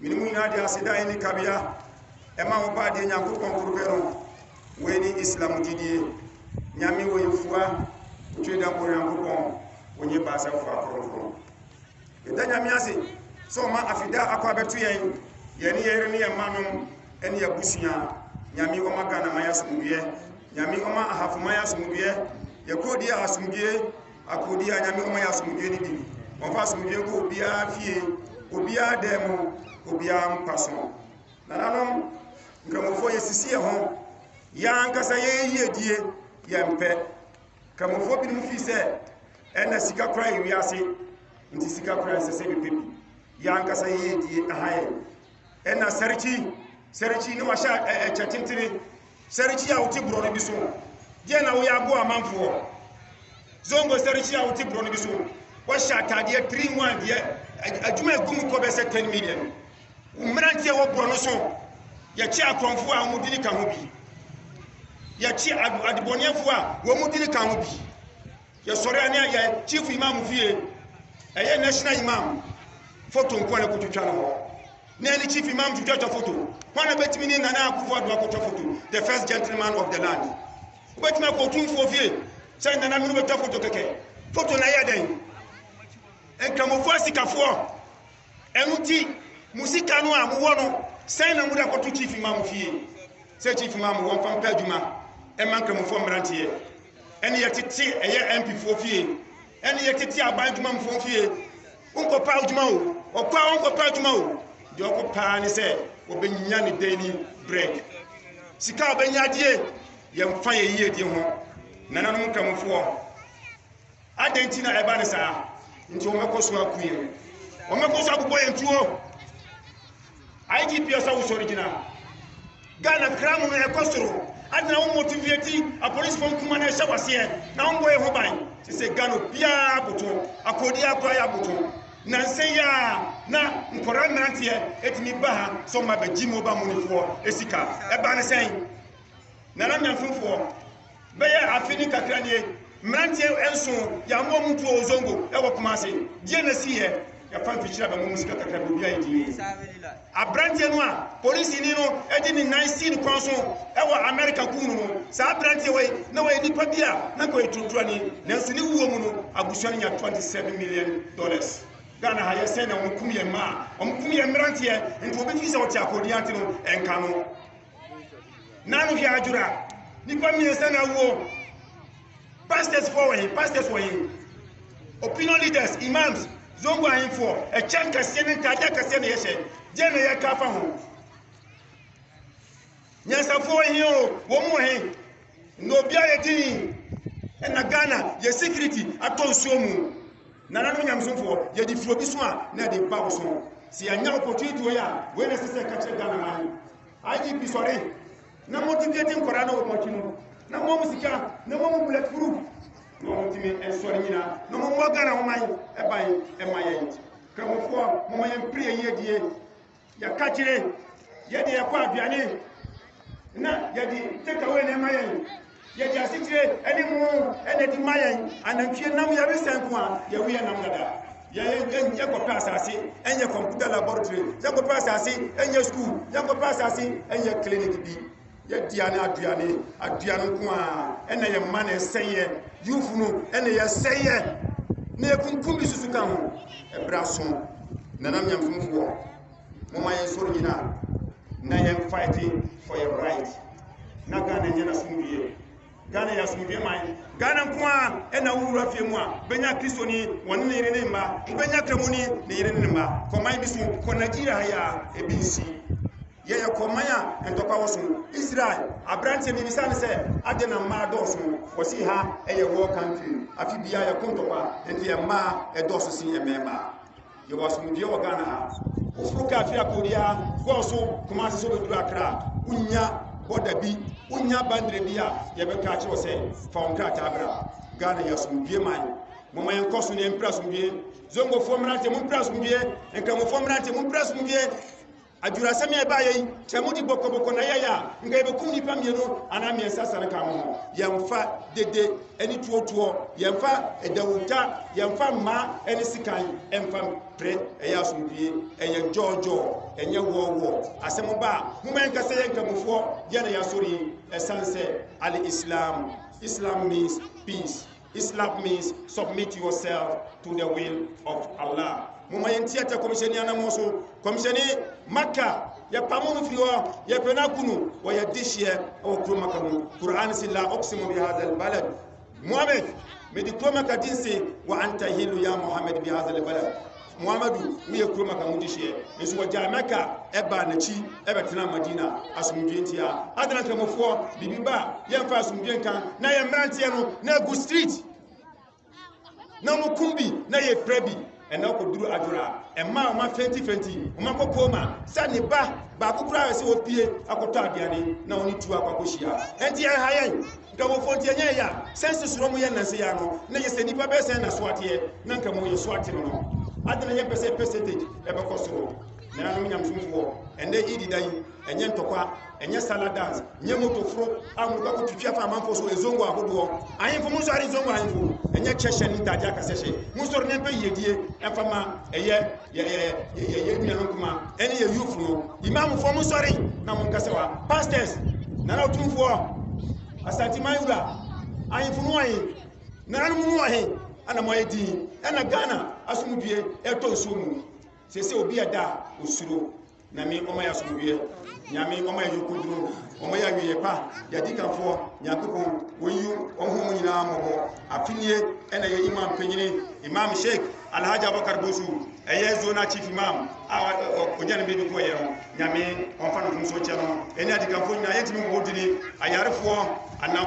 Wei mu nyinaa de aseda a ɛnni kabea ma wo Baadeɛ Nyankopɔn koro pɛ no. Wei ne Islam gyidie. Nyame wɔ yɛfua, otwe dɛ koro Nyankopɔn, ɔnyɛ baasɛfoɔ akronkron. Yɛda Nyame ase sɛ ɔma afida akɔ abɛto yɛn, yɛne yɛn yere ne yɛn mma nom ne abusua. Nyame ɔma Ghana man asomdwoeɛ. Nyame ɔma Ahafo man asomdwoeɛ. Yɛkɔ di a asomdwoeɛ. Akokodie a Nyame ɔma yɛ asomdwoe no bi ni. Wɔmfa asomdwoe nkɔ obiara fie, obiara dan mu, obiara mpa so. Nananom Nkramofoɔ yɛsisi yɛn ho, yɛn ankasa yɛn yiedie yɛmpɛ. Nkramofoɔ binom fii sɛ ɛna sika kora yɛ wiase, nti sika kora ɛnsɛ sɛ bɛpɛ bi. Yɛn ankasa yɛn yiedie aha yɛn. ɛna sɛrekyi sɛrekyi ne wahyɛ ɛkyɛ tentene sɛrekyi a wote borɔ no bi so deɛ na woyɛ aboa amanfoɔ zongo sɛrekyi a wote borɔ no bi so wahyɛ ataadeɛ 3 1 deɛ adwuma ɛgu mu kɔ bɛsɛ 10 million mmeranteɛ wɔ borɔ no so yɛkye akorɔmfoɔ a wɔn dini ka ho bi yɛkye adebɔneɛfoɔ a wɔn dini ka ho bi Yɛsɔre a ne ayɛ chief imam fie ɛyɛ national imam foto nko na kotwitwa no hɔ na ɛne chief imam twitwatwa foto hɔ na bɛtumi ne nana akufo ado akotwa foto the first gentleman of the land wobɛtumi akɔ otumfoɔ fie sɛ nana mene bɛtwa foto kɛkɛ foto na ɛyɛ dɛn nkramofoɔ asikafoɔ Ɛno nti, mo sika no a mowɔ no, sɛn na mode akɔto kyifi ma mo fie? Sɛ kyifi ma mo wɔmfa mpɛ adwuma mma Nkramofoɔ mmeranteɛ, ɛne yɛtete ɛyɛ MPfoɔ fie, ɛne yɛtete aban adwumamfoɔ fie. Wonkɔpɛ adwuma o, ɔkɔ a ɔnkɔpɛ adwuma o, deɛ ɔkɔ paa ne sɛ ɔbɛnya ne daily bread. Sika a ɔbɛnya adie, yɛmfa yɛn yiedie ho. Nananom Nkramofoɔ. Adɛn nti na ɛba ne saa? Nti wɔbɛkɔ so aku yɛn, wɔbɛkɔ so abobɔ yɛn tuo. IGP ɔsɛ wosɔre gyina. Ghana kra mu no ɛkɔ soro. Adena wo motivate apolisifoɔ nkuma no ɛhyɛ waseɛ na wombɔ yɛ ho ban. Te sɛ Ghana obiara aboto, akɔdi akora yɛ aboto. Nansa yi a na nkɔra mmeranteɛ ɛtumi ba ha sɛ ɔma bɛgye mobile moneyfoɔ ɛsika. Ɛba ne sɛn? Nana Nyamfimfoɔ. Bɛyɛ afe ne kakra nie, mmeranteɛ nson, yɛammɔ mu ntuo wɔ Zongo wɔ Kumase. Deɛ na siiɛ? Yɛfa mfikyire a bɛmmɔ mu sika kakra bi, obiara yɛ dinn. Aberanteɛ no a polisini no de ne nan sii ne kɔn so wɔ Amerika kum no no, saa aberanteɛ wei, na ɔyɛ nipa bi a na ɔyɛ turoturani, nanso ne wuo mu no, abusua no nya 27 million dollars. Ghana ha, yɛ sɛn na wɔkum yɛn mmaa, wɔkum yɛn mmeranteɛ, nti obi fi sɛ ɔte akorodin ante no, ɛnka no. Nanu hwɛ adwora. Nipa mmiɛnsa na awuo. Pastors foɔ wɔ he? Pastors wɔ he? Opinion leaders, imams, zongo ahemfoɔ, ɛkyɛ nkɛseɛ ne ntaadeɛ akɛseɛ na yɛhyɛ. Deɛ na yɛka afa ho. Nyansafoɔ wɔ he o? Wɔn wɔ he? Nnɛ obi ayɛ din. Ɛna Ghana yɛ security atɔ nsuo mu. Nananom nyamesomfoɔ, yɛde firi obi so a, na ɛde ba wo so. Sɛ yɛanya opportunity wei a, wei na ɛsɛ sɛ ɛka kyerɛ Ghana man. IGP sɔre na motivate nkwadaa na wɔn akyi no, na mo mu sika, na mo mu bullet proof, na wɔn tumi nsɔre nyina, na mo mmɔ Ghana ho man ɛban ɛma yɛn. Kramofoɔ, mo ma yɛn pere yɛn yiedie. Yɛka kyerɛ yɛde yɛkɔ aduane na yɛde takeaway na ɛma yɛn yɛde asekyerɛ ɛne mu ɛna ɛde ma yɛn anantwie nam yɛre sɛn ko a yɛwo yɛ nam dada yɛkɔpɛ asase ɛnyɛ computer laboratory yɛkɔpɛ asase ɛnyɛ school yɛkɔpɛ asase ɛnyɛ clinic bi Yɛdea ne aduane, aduane nko a, ɛna yɛ mma na ɛsɛeɛ. Youth no ɛna yɛ sɛeɛ. Na yɛkunkum bi susu ka ho. Ɛberɛ aso, nana nyamfomfoɔ, moma yɛn sɔre nyina na yɛn fight for your right. Na Ghana nyɛ n'asomdwie. Ghana yɛ asomdwoe man. Ghana nko ara na wo wura fie mu a, wobɛnya Kristoni, wɔne ne yere ne ne mma. Wobɛnya Kramoni, ne yere ne ne mma. Kɔ man bi so, kɔ Nigeria ha yi a, ebi nsi. Yɛyɛ kɔ man a ntɔkwa wɔ so. Israel, aberanteɛ bi bisa no sɛ, adɛn na mmaa dɔɔso? Ɔse ha yɛ war country, afe biara yɛko ntɔkwa, nti mmaa dɔɔso sen mmarima. Yɛwɔ asomdwoeɛ wɔ Ghana ha. Woforo kaa firi akɔ biara, kɔɔ so Kumasi sɛ wobɛduru Accra a, wonnya bɔda bi, wonnya bandere bi a yɛbɛka akyerɛ wo sɛ fa wo nkrataa bra. Ghana yɛ asomdwoeɛ man. Momma yɛnkɔ so na yɛmpira asomdwoeɛ. Zongofoɔ mmeranteɛ, mompira asomdwoeɛ. Nkramofoɔ mmeranteɛ, mompira asomdwoeɛ. Adwurasɛm a ɛbaeɛ yi, sɛ mode bɔkɔbɔkɔ na ɛyɛeɛ a, nka yɛbɛkum nnipa mmienu anaa mmiɛnsa sane ka mo ho. Yɛmfa dede ne tuotuo, yɛmfa dawuta, yɛmfa mma ne sekan mfa mpere. Ɛyɛ asomdwoeɛ, ɛyɛ gyɔɔgyɔɔ, ɛnyɛ wɔɔwɔɔ. Asɛm ba a, momma yɛnka sɛ yɛn Nkramofoɔ, yɛn na yɛasɔre yi, ɛsiane sɛ Al-Islam, Islam means peace. Islam means submit yourself to the will of Allah. Moma yɛnti atɛ kɔmhyɛni anamɔ so. Kɔmhyɛni Maka yɛpamo no firi hɔ yɛpɛ no akunu wɔyɛ dehyeɛ wɔ kuro Maka mu. Quran si la oksimu bi hadha albalad Muhammad mede kuro Maka di nse wa anta hilu ya Muhammad bi hadha albalad Muhammadu mu yɛ kurom anka mudi hyeɛ nso wɔgyae Mɛka ɛbaa n'akyi ɛbɛtena Madina asomdwoe ntia adana nkramofoɔ biribi ba yɛmfa asomdwoe nka na yɛ mmeranteɛ no na agu street na wɔkum bi na yɛpira bi ɛna ɔkɔduru adwora ɛma ɔma fɛntifɛnti ɔma kɔkɔɔ ma sɛ ne ba baako koraa yɛ sɛ wɔpie akɔtɔ aduane na ɔne tuo akɔakɔhyia ɛnti ɛha yɛn Dawofo, nti ɛnyɛ ɛyɛ a sɛ nsesoɔ mu yɛ nnansa yi ara no na yɛ sɛ nnipa bɛyɛ sɛn na so ateɛ na nka mu yɛ so ate no no adɛn na yɛmpɛ sɛ percentage ɛbɛkɔ soro Nananom nyamesomfoɔ ɛnnɛ Eid da yi ɛnyɛ ntɔkwa ɛnyɛ sala dance nyɛ moto foro a mode kɔkɔ twitwi afa amanfoɔ so ezongo ahodoɔ ahemfo mu nsɔre ezongo ahemfo ɛnyɛ kyɛ hyɛ ne ntaadeɛ akasɛ hyɛ mu nsɔre ne mpɛ yiedie ɛmfa ma ɛyɛ yɛyɛ nua no nkoma ɛne yɛ yufo no imamfoɔ mo sɔre na mo nkasa wa pastors nana ɔtumfoɔ asanteman wura ahemfo no wɔhe nananom no wɔhe ɛna mo ayɛ din ɛna ghana asomdue ɛtɔ nsuo mu sɛ sɛ obi ɛda osuro Nyame ɔma yɛ asomdwoeɛ, Nyame ɔma yɛ yɔnkoduro, ɔma yɛ awieɛ pa, yɛ adikanfoɔ, Nyankopɔn wɔyi wɔn ho mu nyinaa mmɔbɔ. Afinie ɛna yɛ imam panyini, Imam Sheikh Alhaji Abubakar Bosu, ɛyɛ zona chief imam a ɔgya ne bɛbi kɔɔ yɛ no, Nyame ɔmfa no mfomsoɔ nkyɛ no, ɛne adikanfoɔ nyinaa yɛntumi mmɔbɔ dini, ayarefoɔ, anam